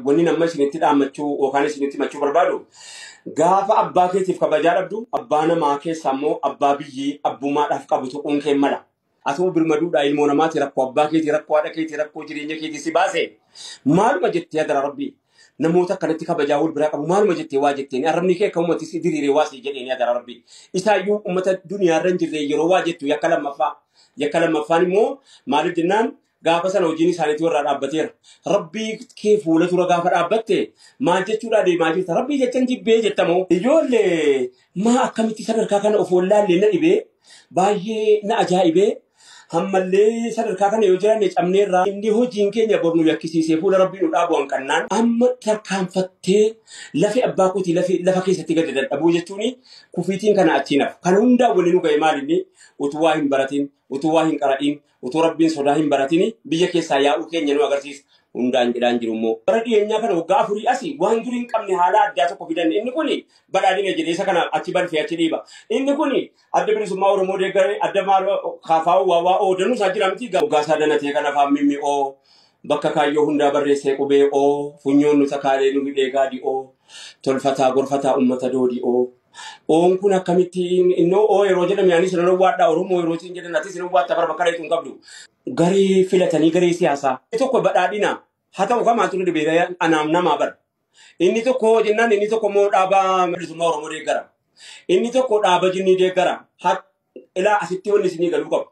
Wanni amma isinitti dhaammachuu yookaan isinitti himachuu barbaadu gaafa abbaa keetiif kabajaa dhabdu abbaa namaa keessa ammoo abbaa biyyii abbummaadhaaf qabu tuquun kee mala. Atoo birmaduudhaa ilmoo namaati rakkoo abbaa keetii rakkoo haadha keetii rakkoo jireenya keetii si baase maaluma jettee adara rabbii namoota akkanatti kabajaa wal biraa qabu maaluma jettee waa jetteen arrabni kee akkamumatti si diriiree waa si jedheen adara rabbii isaayyuu uummata duniyaa irra hin jirre yeroo waa jettu yakka lammaffaa yakka lammaffaan immoo maaliif jennaan Gaafa sana hojiin isaaniitu irraa dhaabbateera. Rabbii kee fuula dura gaafa dhaabbatte maal jechuudhaa deemaa jirta? Rabbii jechan jibbee jettamoo? Ijoollee maa akkamitti sadarkaa kana of wallaallee na dhibee baay'ee na ajaa'ibee hammallee sadarkaa kana yoo jiraanne cabneerraa inni hojiin keenya bor nu yakkisiisee fuula rabbii nu dhaabu hanqannaan amma tarkaanfattee lafi abbaa kootii lafi lafa keessatti gadi dadhabuu jechuun kufiitiin kana achiin hafu. Kan hundaa waliin nu ga'e maalinni utuu waa hin baratin utuu waa hin qara'in Utuu Rabbiin sodaa hin baratini biyya keessaa yaa'uu keenya nu agarsiisa. Hundaan jedhaan jiru immoo. Bara dhiyeenyaa kana waggaa afurii asi waan durii hin qabne haalaa addaa tokko fidan. Inni kun badhaadhina jedhee isa kana achi balfee achi dhiiba. Inni kun adda bilisummaa Oromoo deeggaree adda maaloo kaafaa'uu waa waa oo danuu isaa jira miti. Waggaa isaa danatee kan afaan mimmi oo bakka kaayyoo hundaa barreessee qubee oo funyoon nu takaalee nu hidhee gaadi oo tolfataa gorfataa ummata doodi oo. Oon kun akkamitti innoo oo yeroo jedhame anis nan owwaadha Oromoo yeroo siin jedhan atis nan owwaatta bara bakka dhayxu hin qabdu. Garee filatanii garee siyaasaa. Inni tokko badhaadhina haa ta'u kamaa ture dhibeera anaam namaa bara. Inni tokko hoo jennaan inni tokko immoo dhaaba bilisummaa Oromoo deeggara. Inni tokko dhaaba jinnii deeggara. Ha- Ilaa asitti wanni isinii galuu qabu.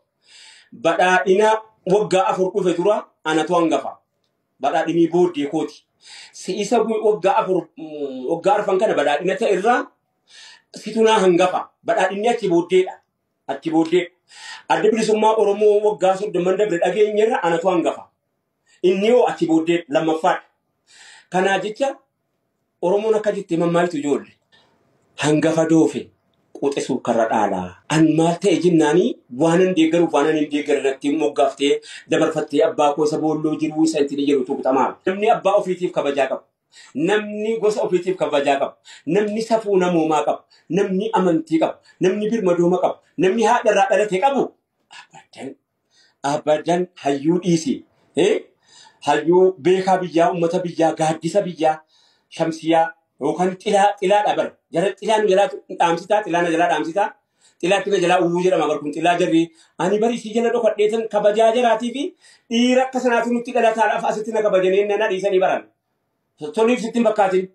Badhaadhina waggaa afur dhufe dura anatu hangafa. badhaadhinii booddee kooti. Si'isa waggaa afur waggaa arfan kana badhaadhina ta'e irraa situnaa hangafa. Badhaadhinni achi booddeedha. Achi booddee adda bilisummaa Oromoo waggaa soddomman dabre dhageenyerra anatu hangafa. Inni hoo achi booddee lammaffaadha. Kanaa jecha Oromoon akka jettee mammaayitu ijoolle hangafa doofe quxisuuf karra dhaalaa. An maal ta'e jennaanii waanan deeggaruuf waanan hin deeggare natti moggaaftee dabarfattee abbaa koo isa boolloo jiruu isa intini jedhu tuqxa maal. Namni abbaa ofiitiif kabajaa qabu. Namni gosa ofiitiif kabajaa qabu. Namni safuu namoomaa qabu. Namni amantii qabu. Namni birmadooma qabu. Namni haadharraa dhalate qabu. Abadan. abadan hayyuu dhiisi eh? hayyuu beekaa biyyaa ummata biyyaa gaaddisa biyyaa shamsiyaa yookaan xilaa xilaa dhabar jara xilaa nu jalaa dhaamsitaa xilaa na jalaa dhaamsitaa xilaa tina jalaa uwuu jedhama bar kun xilaa jarri ani bari isii jala dhokadheetan kabajaa jaraatii fi dhiira akka sanaatu nutti dhalataadhaaf asitti na kabajaneen na dhiisanii baran toliif sitti hin fakkaatin.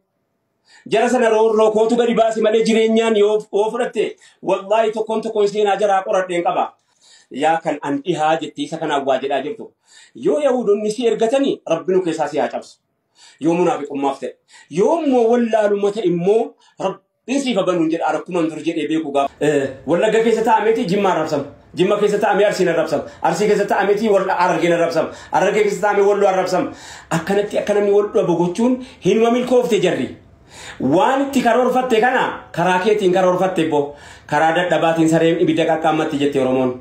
Jara sana roorroo kootu gadi baasi malee jireenyaan yoo yoo fudhatte wallaahi tokkoon tokkoon seenaa jaraa qoradheen qaba. Yaa kan an dhihaa jettee isa kanaan waa jedhaa jirtu. Yoo Yahuudonni si ergatanii rabbi nu keessaa si haa cabsu. Yoo munaafiqummaaf ta'e. Yoo immoo wallaalummaa ta'e immoo rabbi Hin siifa banuun jedha rakkuman dur jedhee beeku gaafa. Wallagga keessa taa'ameeti Jimma arrabsama. Jimma keessa taa'amee Arsiin arrabsama. Arsii keessa taa'ameeti Harargeen arrabsama. Harargee keessa taa'amee Walloo arrabsama. Akkanatti akka namni wal dhabu gochuun hinuma milkoofte jarri. Waan itti karoorfatte kana karaa keetiin karoorfatte boo karaa dadhabaatiin sareen ibidda qaqqaammatti jette Oromoon.